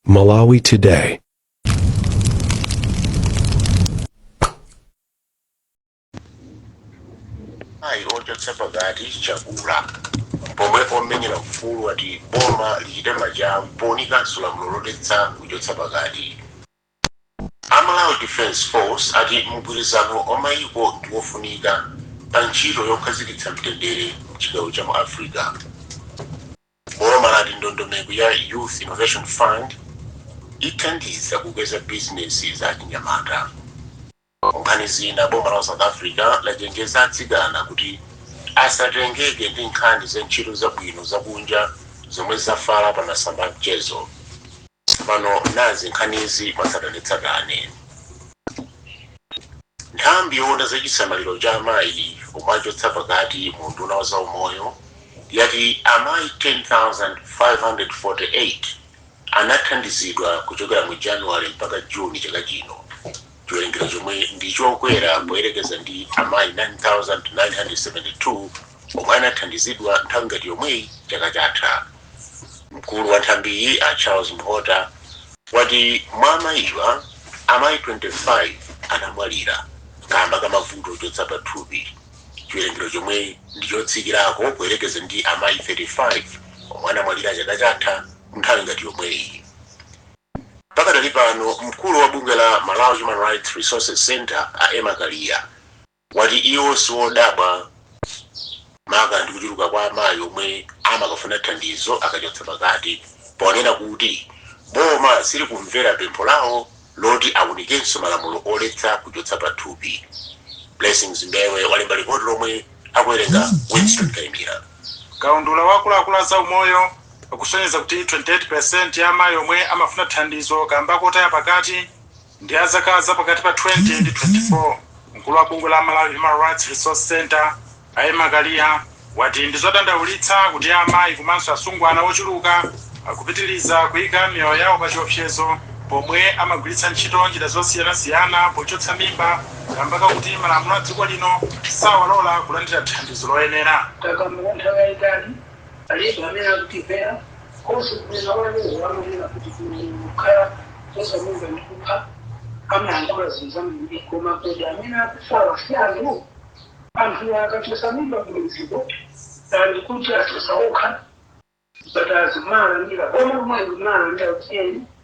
Malawi Today. Amayi ochotsa pakati chakula pomwe omenyera ufulu ati boma lichite machawi pounikanso lamulo loletsa kuchotsa pakati a malawi defense force ati mgwirizano wa mayiko ndi wofunika pa ntchito yokhazikitsa mtendere mchigawo cha mu africa Boma lati ndondomeko ya Youth Innovation Fund ithandiza kukweza bizinesi za achinyamata. Munkhani zina, boma la South Africa lachenjeza atsikana kuti asatengeke ndi nkhani za ntchito zabwino zakunja zomwe zafala pa masamba a mchezo. Tsopano nazi nkhanizi mwatsatanetsatane. Nthambi yowona za chisamaliro cha amayi omwe achotsa pakati mu unduna wa za umoyo yati amayi 10,548 anathandizidwa kuchokera mu January mpaka June chaka chino. chiwerengero chomwe ndi chokwera poyerekeza ndi amayi 9,972 omwe anathandizidwa nthawi ngati yomweyi chaka chatha. Mkulu wa nthambiyi a Charles Mhota wati mwa amayiwa, amayi 25 anamwalira kaamba ka mavuto ochotsa pathupi, chiwerengero chomwe ndi chotsikirako poyerekeza ndi amayi 35 omwe anamwalira chaka chatha nthawi ngati yomweyi. Pakadali pano mkulu wa bungwe la Malawi Human Rights Resources Centre a Emma Kaliya wati iwo siwodabwa maka ndi kuchuluka kwa amayi omwe amakafuna thandizo akachotsa pakati ponena kuti boma silikumvera pempho lawo loti awunikenso malamulo oletsa kuchotsa pathupi. Blessings Mbewe walemba lipoti lomwe akuwerenga Winston Kaimira. Kaundula wa akuluakulu a zaumoyo. akusonyeza kuti 28 peresenti ya amayi omwe amafuna thandizo kaamba kotaya pakati ndi a zaka za pakati pa 20 ndi 24. Mkulu wa bungwe la Malawi Human Rights Resource Centre, a Emma Kaliya, wati ndi zodandaulitsa kuti amayi komanso asungwana ochuluka akupitiliza kuika miyoyo yawo pa chiopsezo pomwe amagwiritsa ntchito njira zosiyanasiyana pochotsa mimba kaamba kakuti malamulo a dziko lino sawalola kulandira thandizo loyenera. Takamba kwa nthawi yayitali Alipo amene akutimvera? Konse kumene mawu anu omwe amanena kuti kukhala kuchotsa mimba ndi kupha amayankhula zinthu zambiri, koma kodi amene akufawa si anthu? Anthuwa akachotsa mimba kumidziko and kuti achotsa okha zipatala zomalandira boma lomweli kumalandira kuti eni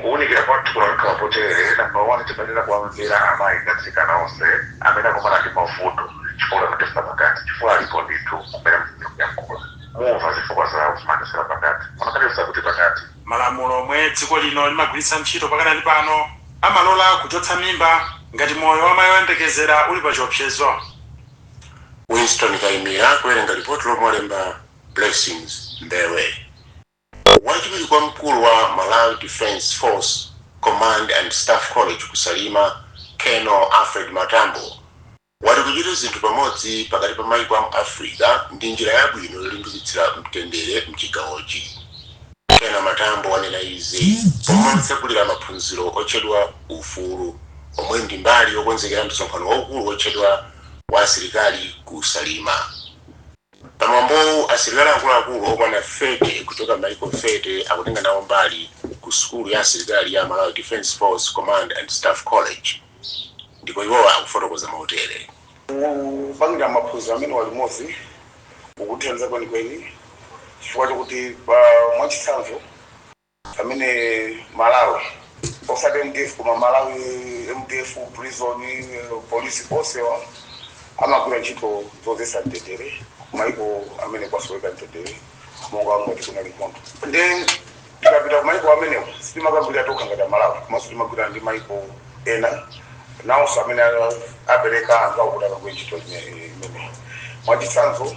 Kuunikira kwathu kunakakhala kotere, Namba 1 timayenera kuwamvera amayi ndi atsikana onse amene akumana ndi mavuto chifukwa kuti amachotsa pakati chifukwa alipo ndithu kumene mukufunika kuyankhula mumva zifukwa zawo zimene amachotsera pakati munakachotsa kuti pakati? Malamulo omwe dziko lino limagwiritsa ntchito pakadali pano amalola kuchotsa mimba ngati moyo wa mai oyembekezera uli pa chiopsezo? Winston Kaimira akuwerenga lipoti lomwe walemba Blessings Mbewe. Wachiwiri kwa mkulu wa Malawi Defence Force Command and Staff College ku Salima, Colonel Alfred Matambo, wati kuchita zinthu pamodzi pakati pa maiko amu Africa ndi njira yabwino yolimbikitsira mtendere mchigawochi. Colonel Matambo wanena izi pomwe atsegulira maphunziro otchedwa Ufulu omwe ndi mbali yokonzekera msonkhano waukulu wotchedwa wa asilikali ku Salima. Pa mwambowu, asilikali akuluakulu okwana 30 kuchoka m'mayiko 30 akutenga nawo mbali ku sukulu ya asilikali ya Malawi Defence Force Command and Staff College ndipo iwowa akufotokoza motere. Kupangira maphunziro amenewa limodzi kukuthandiza kwenikweni chifukwa chokuti mwachitsanzo, amene Malawi osati MDF koma Malawi MDF prison polisi onsewa amagwira ntchito zodzetsa mtendere kumaiko amene kwasoweka mtendere monga ngati kunali nkhondo nde tikapita kumaiko amenewo sitimakagwira tokha ngati amalawi komanso timakagwira ndi maiko ena nawonso amene a- apereka anthu awo kuti akagwire ntchito ime- imeneyi mwachitsanzo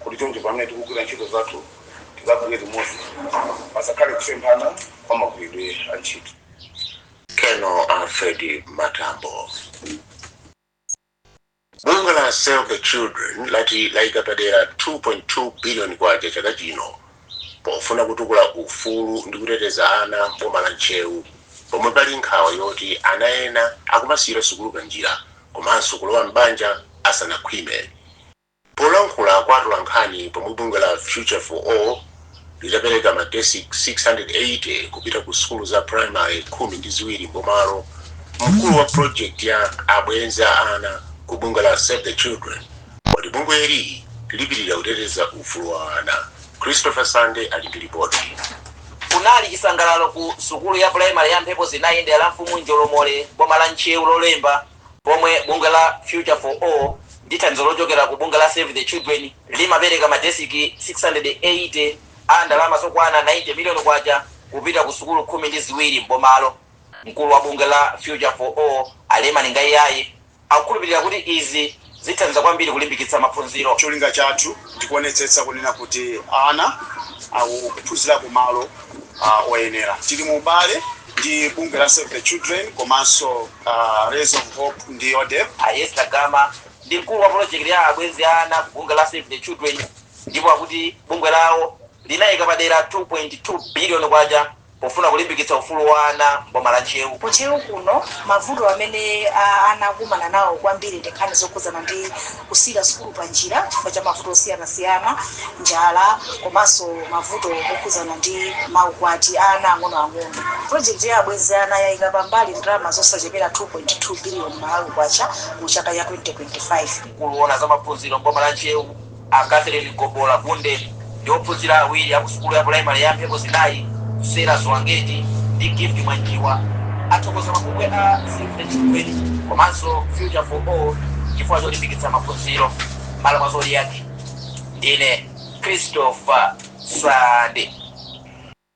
Kuti choncho pamene tikugwira ntchito zathu tikagwire limodzi pasakhale kusemphana kwa magwiridwe a ntchito. Colonel Alfred Matambo. Bungwe la Save the Children lati layika padera K2.2 biliyoni chaka chino pofuna kutukula ufulu ndi kuteteza ana m'boma la Ntcheu pomwe pali nkhawa yoti ana ena akumasiyira sukulu panjira komanso kulowa m'banja asanakhwime. Polankhula kwa atolankhani pomwe bungwe la Future for All litapereka ma desiki 680 kupita ku sukulu za primary khumi ndi ziwiri m'bomalo, mkulu wa project ya Abwenzi a Ana ku bungwe la Save the Children wati bungweli lipitilira kuteteza ufulu wa ana. Christopher Sande ali ndi lipoti. Kunali chisangalalo ku sukulu ya primary ya Mphepo Zinayi m'dera la mfumu Njolomole m'boma la Ntcheu Lolemba Pomwe bungwe la Future for All ndi thandizo lochokera ku bungwe la Save the Children limapereka madesiki 680 a ndalama zokwana K90 million kupita ku sukulu khumi ndi ziwiri m'bomalo, mkulu wa bungwe la Future for All a Leman Ngaiyaye akukhulupilira kuti izi. Zithandiza kwambiri kulimbikitsa maphunziro. Cholinga chathu ndi kuonetsetsa kunena kuti ana akuphunzira ku malo oyenera. Tili mu ubale ndi bungwe la Save the Children komanso Rays of Hope ndi Yodep. A Esther Gama ndi mkulu wa polojekiti ya abwenzi a ana ku bungwe la Save the Children ndipo akuti bungwe lawo linaika padera K2.2 biliyoni Pofuna kulimbikitsa ufulu wa ana m'boma la Ntcheu. Ku Ntcheu kuno, mavuto amene ana akukumana nawo kwambiri ndi nkhani zokhudzana ndi kusiyira sukulu panjira chifukwa cha mavuto osiyanasiyana, njala komanso mavuto okhudzana ndi maukwati a ana ang'onoang'ono. Pulojekiti ya Abwenzi a Ana yaika pambali ndalama zosachepera K2.2 biliyoni mu chaka cha 2025. Mkulu woona za maphunziro m'boma la Ntcheu. A Catherine Gobola Gunde ndi ophunzira awiri a ku sukulu ya pulayimale ya Mphepo Zinayi, Sera Zwangeti ndi Gift Mwanjiwa, athokoza mabungwe a Save the Children komanso Future for All chifukwa cholimbikitsa maphunziro. Mmalo mwa Zodiak, ndine Christopher Sande.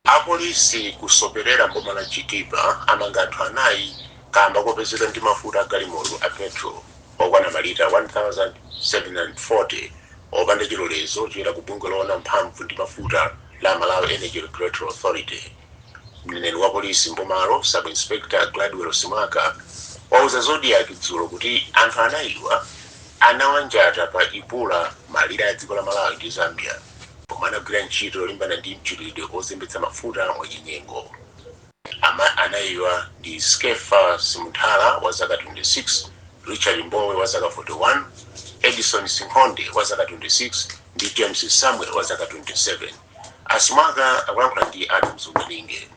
Apolisi kuzopelera mboma la Chitipa amanga anthu anayi kaamba kopezeka ndi mafuta a galimoto a Petrol okwana malita 1,740 opanda chilolezo choyenera ku bungwe loona za mphamvu ndi mafuta la Malawi Energy Regulatory Authority. Mneneri wa polisi mbomalo Sub Inspector Gladwell Simwaka wauza Zodiak dzulo kuti anthu anayiwa anawanjata pa Ipula malire a dziko la Malawi ndi Zambia. Pomwe amagwira ntchito yolimbana ndi mchitidwe ozembetsa mafuta mwachinyengo. Anayiwa ndi Skeffa Simunthala wa zaka 26, Richard Mbowe wa zaka 41, Edison Sinkhonde wa zaka 26 ndi James Samuel wa zaka 27. A Simwaka akulankhula ndi Adams Umalinge.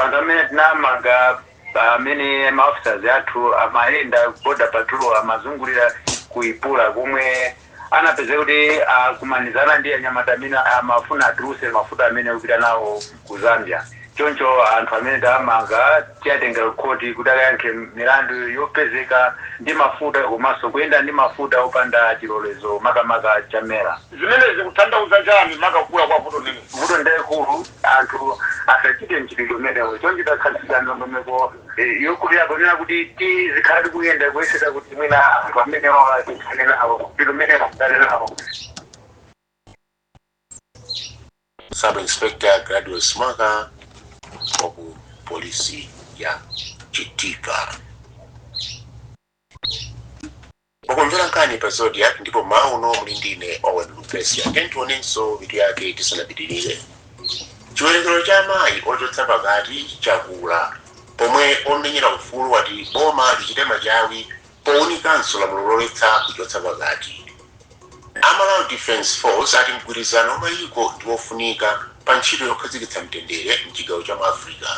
Anthu amenewa tinawamanga pamene ma officers athu amayenda border patrol amazungulira ku Ipula komwe anapezeka kuti akumanizana ndi anyamata amene amafuna atulutse mafuta amenewa kupita nawo ku Zambia. Choncho anthu amene tawamanga tiwatengera ku khoti kuti akayankhe milandu yopezeka ndi mafuta komanso kuyenda ndi mafuta opanda chilolezo makamaka cha Mera. Zimenezi zikutanthauza chani maka kukula kwa vuto limeneli? Vuto ndi lalikulu. Anthu asachite mchitidwe umenewo. Choncho takhazikitsa ndondomeko yokulira ponena kuti tizikhala tikuyenda kuyesetsa kuti mwina anthu amenewawa tithane nawo, mchitidwe umenewo tithane nawo. Sub Inspector Gladwell Simwaka wa ku polisi ya Chitipa. Mukumvera nkhani pa Zodiak ndipo mmawa uno muli ndi ine Owen Lupeska. Tiyeni tionenso mitu yake tisanapitirire. Chiwerengero cha amayi ochotsa pakati chakula pomwe omenyera ufulu ati boma lichite machawi pounikanso lamulo loletsa kuchotsa pakati. A Malawi Defence Force ati mgwirizano wa mayiko ndi wofunika pa ntchito yokhazikitsa mtendere m'chigawo cha mu Africa.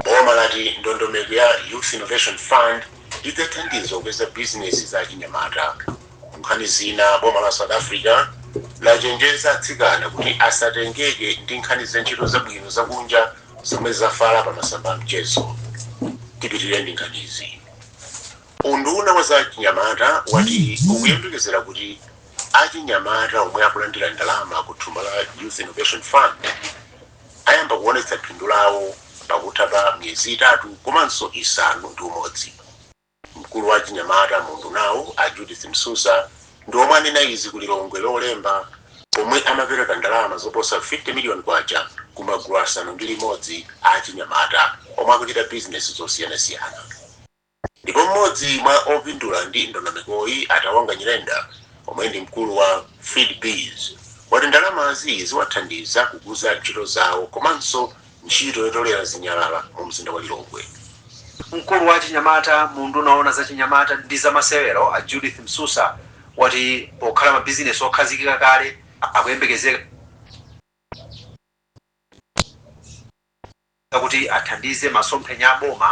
Boma lati ndondomeko ya Youth Innovation Fund idzathandiza kukweza bizinesi za achinyamata. Mu nkhani zina, boma la South Africa lachenjeza atsikana kuti asatengeke ndi nkhani za ntchito zabwino zakunja zomwe zafala pa masamba a mchezo. Tipitirire ndi nkhanizi. Unduna wa za achinyamata wati ukuyembekezera kuti achinyamata omwe akulandira ndalama ku thumba la Youth Innovation Fund ayamba kuonetsa phindu lawo pakutha pa miyezi itatu komanso isanu ndi umodzi. Mkulu wa achinyamata mu undunawu a Judith Msusa ndi omwe anena izi ku Lilongwe Lolemba pomwe amapereka ndalama zoposa K50 million ku magulu asanu ndi limodzi a achinyamata omwe akuchita bizinesi zosiyanasiyana. Ndipo m'modzi mwa opindula ndi ndondomekoyi a Tawonga Nyirenda omwe ndi mkulu wa Seedbiz wati ndalamazi ziwathandiza kukuza ntchito zawo komanso ntchito yotolera zinyalala mu mzinda wa Lilongwe. Mkulu wa achinyamata mu unduna owona za chinyamata ndi zamasewero a Judith Msusa wati pokhala mabizinesi okhazikika kale akuyembekezeka kuti athandize masomphenya a boma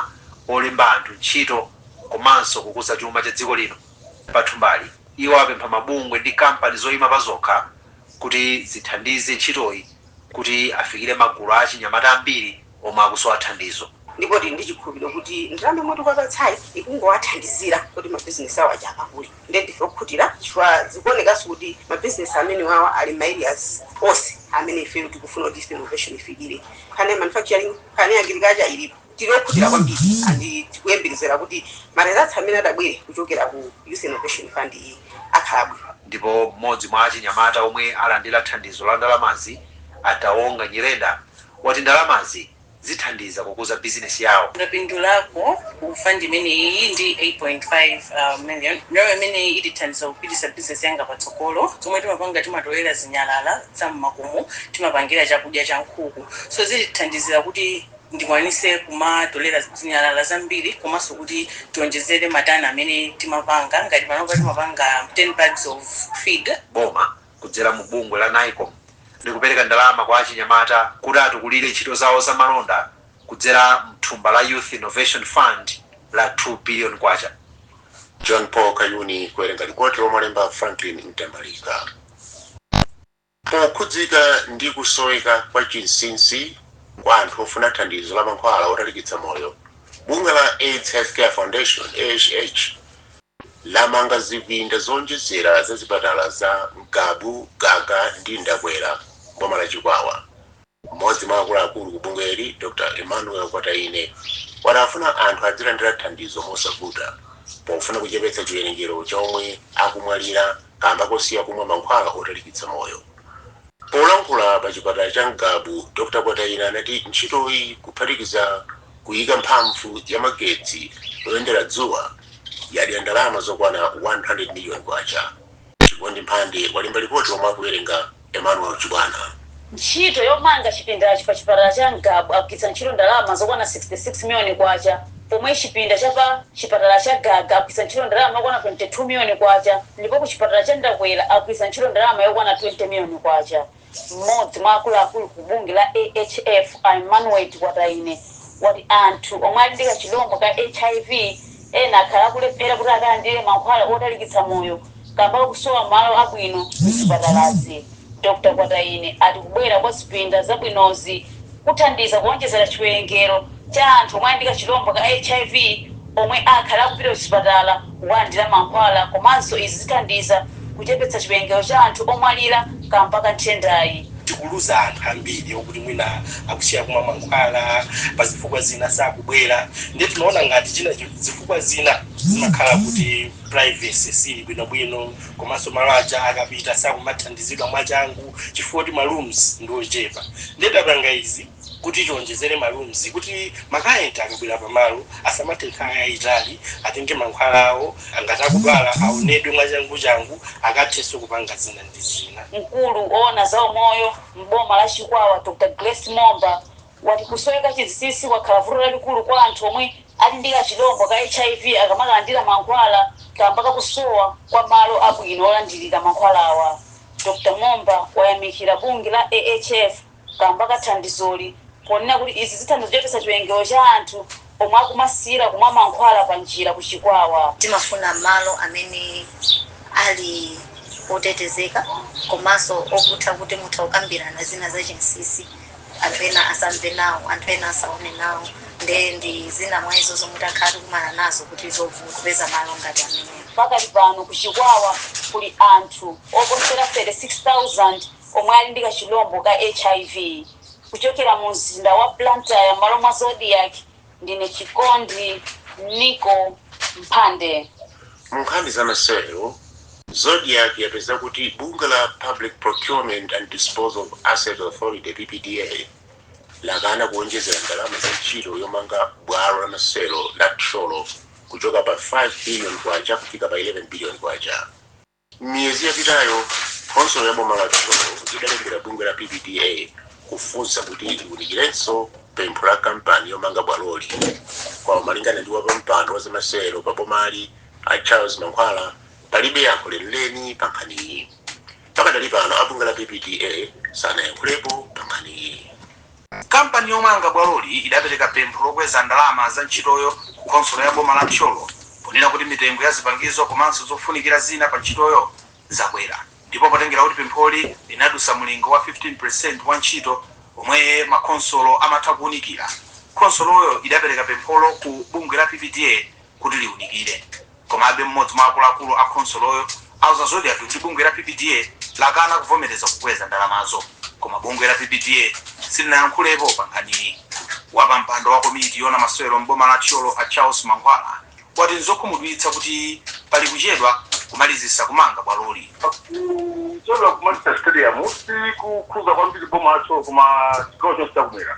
olemba anthu ntchito komanso kukuza chuma cha dziko lino. Pa thumbali, iwo apempha mabungwe ndi kampani zoyima pazokha kuti zithandize ntchitoyi kuti afikire magulu a achinyamata ambiri omwe akusowa thandizo. Ndipo tili ndi chikhulupiliro kuti ndalama yomwe tikuwapatsayi ikungowathandizira kuti mabizinesi awo aja akule. Nde ndife okhutira chifukwa zikuonekanso kuti ma business amenewawa ali mma areas onse amene ife tikufuna kuti Youth Innovation ifikire. Nkhani ya manufacturing, nkhani ya agriculture ilipo. Tili okhutira kwambiri and tikuyembekezera kuti ma results amene atabwere kuchokera ku Youth Innovation Fund iyi akhala abwino. Ndipo mmodzi mwa achinyamata omwe alandira thandizo la ndalamazi, a Tawonga Nyirenda, wati ndalamazi, zithandiza kukuza bizinesi yawo. Ndapindulako ku fund imeneyi ndi 8.5 million. Ndalama imeneyi itithandiza kupititsa bizinesi yanga patsogolo. Zomwe timapanga timatolera zinyalala za mmakomo timapangira chakudya cha nkhuku so zitithandizira kuti ndikwanise kumatolera zinyalala zambiri komanso kuti tionjezere matani amene timapanga ngati panopa timapanga 10 bags of feed. Boma kudzera mu bungwe la Nycom likupereka ndalama kwa achinyamata kuti atukulire ntchito zawo za malonda kudzera mthumba la Youth Innovation Fund la K2 billion. John Paul Kayuni kuwerenga lipoti lomwe walemba Franklin Mtambalika. Pokhudzika ndi kusoweka kwa chinsinsi kwa anthu ofuna thandizo la mankhwala otalikitsa moyo, bungwe la aids Healthcare Foundation, AHF, lamanga zipinda zoonjezera za zipatala za Ngabu, Gaga ndi Ndakwera m'boma la Chikwawa. M'modzi mwa akuluakulu ku bungweli, Dr Emmanuel Kwataine, wati afuna anthu adzilandira thandizo mosavuta pofuna kuchepetsa chiwerengero cha omwe akumwalira. kamba kosiya kumwa mankhwala otalikitsa moyo. Polankhula pa chipatala cha Ngabu, Dr Kwataine anati ntchitoyi kuphatikiza kuyika mphamvu ya magetsi oyendera dzuwa yadya ndalama zokwana K100 million. Chikondi Mphande walemba lipoti omwe akuwerenga Emmanuel Chibwana. Ntchito yomanga chipindachi pa chipatala cha Ngabu agwiritsa ntchito ndalama zokwana K66 million pomwe chipinda cha pa chipatala cha Gaga agwiritsa ntchito ndalama yokwana K22 million ndipo ku chipatala cha Ndakwera agwiritsa ntchito ndalama yokwana K20 million. M'modzi mwa akuluakulu ku bungwe la AHF a Emmanuel Kwataine wati anthu omwe ali ndi kachilombo ka hiv ena akhala akulephera kuti akalandire mankhwala otalikitsa moyo, Kamba kakusowa malo abwino mzipatalazi, Dr Kwataine ati kubwera kwa zipinda zabwinozi kuthandiza kuonjezera chiwerengero cha anthu omwe ali ndi kachilombo ka hiv omwe akhale akupita kuzipatala kukalandira mankhwala komanso izi zithandiza kuchepetsa chiwerengero cha anthu omwalira kamba ka nthendayi. Tikuluza anthu ambiri okuti mwina akusiya kumwa mankhwala, pazifukwa zina sakubwera, ndiye tinaona ngati china zifukwa zina zimakhala kuti. privacy sili bwino bwino komanso malo aja akapita sakumathandizidwa mwachangu chifukwa kuti ma rooms ndi ochepa nde tapanga izi kuti tionjezere ma rooms kuti ma client akabwera pa malo asamathe nthawi yayitali atenge mankhwala awo ngati akudwala awonedwe mwachanguchangu akathenso kupanga zina ndi zina. Mkulu owona za umoyo m'boma la Chikwawa Dr Grace Momba wati kusoweka chinsinsi kwakhala vuto lalikulu kwa anthu omwe ali ndi kachilombo ka hiv akamakalandira mankhwala kamba ka kusowa kwa malo abwino olandirira mankhwalawa. Dr Momba wayamikira bungwe la AHF kamba ka thandizoli ponena kuti izi zithandiza kuchepetsa chiwerengero cha anthu Omwe akumasiyira kumwa mankhwala panjira ku Chikwawa. Timafuna malo amene ali otetezeka komanso oputa kuti mutha kukambirana zina za chinsinsi anthu ena asamve nawo, anthu ena asaone nawo nde ndi zina mwa izo zomwe takhala tikumana nazo kuti zovuta kupeza malo ngati amenewo. Pakali pano ku Chikwawa kuli anthu oposera 36,000 omwe ali ndi kachilombo ka hiv. Kuchokera mu mzinda wa Blantyre m'malo mwa Zodiak, ndine Chikondi Michael Mphande. Mu nkhani za masewero, Zodiak yapeza kuti bungwe la Public Procurement and Disposal of Assets Authority, PPDA, lakana kuonjezera ndalama za ntchito yomanga bwalo la masewero la Thyolo kuchoka pa K5 billion kufika pa K11 billion. M'miyezi yapitayo, khonsolo ya boma la Thyolo idalembera bungwe la PPDA kufunsa kuti liunikirenso pempho la kampani yomanga bwaloli. Koma malingana ndi wapampando wa zamasewero pa bomali a Charles Mankhwala, palibe yankho lenileni pa nkhaniyi. Pakadali pano a bungwe la PPDA sanayankhulepo pa nkhaniyi. Kampani yomanga bwaloli idapereka pempho lokweza ndalama za ntchitoyo ku khonsolo ya boma la Thyolo ponena kuti mitengo ya zipangizo komanso zofunikira zina pa ntchitoyo zakwera ndipo potengera kuti pempholi linadutsa mulingo wa 15 percent wa ntchito omwe makhonsolo amatha kuunikira, khonsoloyo idapereka pempholo ku bungwe la PPDA. kuti liunikire. Komabe, mmodzi mwa akuluakulu a khonsoloyo auza Zodiak kuti bungwe la PPDA lakana kuvomereza kukweza ndalamazo. Koma bungwe la PPDA silinayankhulepo pankhaniyi. Wapampando wa komiti yoona masewero m'boma la Thyolo a Charles Mankhwala wati n'zokhumudwitsa kuti pali kuchedwa kumalizitsa kumanga bwaloli. Kuchedwa kumalizitsa sitediyamu sikukhuza kwambiri boma la Thyolo koma chigawo chonse chakumwera.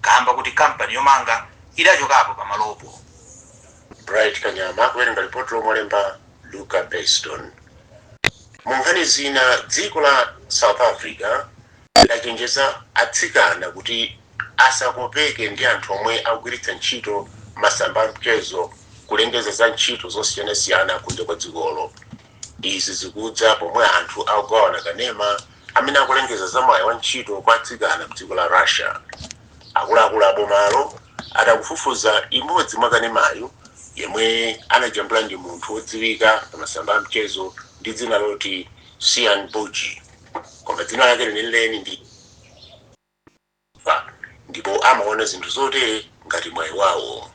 kaamba koti kampani yomanga idachokapo pa malopo. Bright Kanyama kuwerenga lipoti lomwe walemba Luka Beston. Mu nkhani zina, dziko la South Africa lachenjeza atsikana kuti asakopeke ndi anthu omwe akugwiritsa ntchito masamba a mchezo kulengeza za ntchito zosiyanasiyana kunja kwa dzikolo. Izi zikudza pomwe anthu akugawana kanema amene akulengeza za mwayi wa ntchito kwa atsikana mdziko la Russia. Akuluakulu a bomalo ati akufufuza imodzi mwa kanemayu yomwe anajambula ndi munthu odziwika pa masamba a mchezo ndi dzina loti Cyan Boujee koma dzina lake lenileni ndi Eva ndipo amaona zinthu zotere ngati mwayi wawo.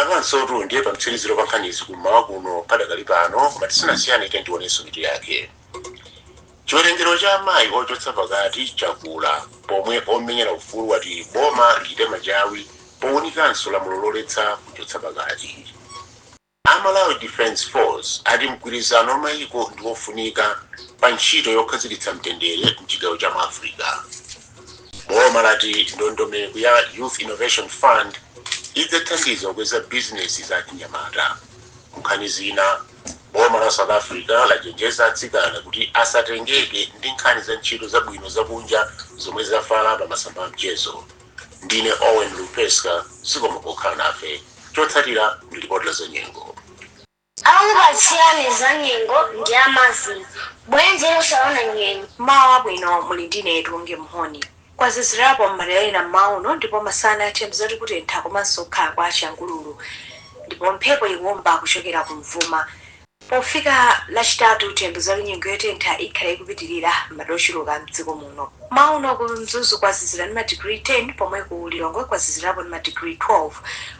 Apanotu ndiye pamtsiriziro pa nkhanizi ku m'mawa kuno padakali pano, koma tisanasiyane tiyeni tionenso mitu yake. Chiwerengero cha amayi ochotsa pakati chakula pomwe omenyera ufulu wati boma lichite machawi powunikanso lamulo loletsa kuchotsa pakati. A Malawi Defence Force ati mgwirizano wa mayiko ndi wofunika pa ntchito yokhazikitsa mtendere m'chigawo cha mu Africa. Boma lati ndondomeko ya Youth Innovation Fund idzathandiza kukweza bizinesi za achinyamata. M'nkhani zina, boma la South Africa lachenjeza atsikana kuti asatengeke ndi nkhani za ntchito zabwino zakunja zomwe zafala pa masamba a mchezo. Ndine Owen Lupeska, zikomo pokhala nafe. Chotsatira ndi lipoti la zanyengo. Akupatsirani za nyengo ndi a Mazin bwenzi losaona nyengo. Mmawa wabwino muli ndine Tuwonge Mhoni. Kwazizirapo mmadera ena mmawa uno ndipo masana tiyembekeze kuti kutentha komanso kukhala kwa changululu ndipo mphepo ikuomba kuchokera kumvuma. Pofika lachitatu tiyembekeze kuti nyengo yotentha ikhala ikupitilira mmadera ochuluka mdziko muno. Mmawa uno ku Mzuzu kwazizira ndi ma digiri 10 pomwe ku Lilongwe kwazizirapo ndi ma digiri 12.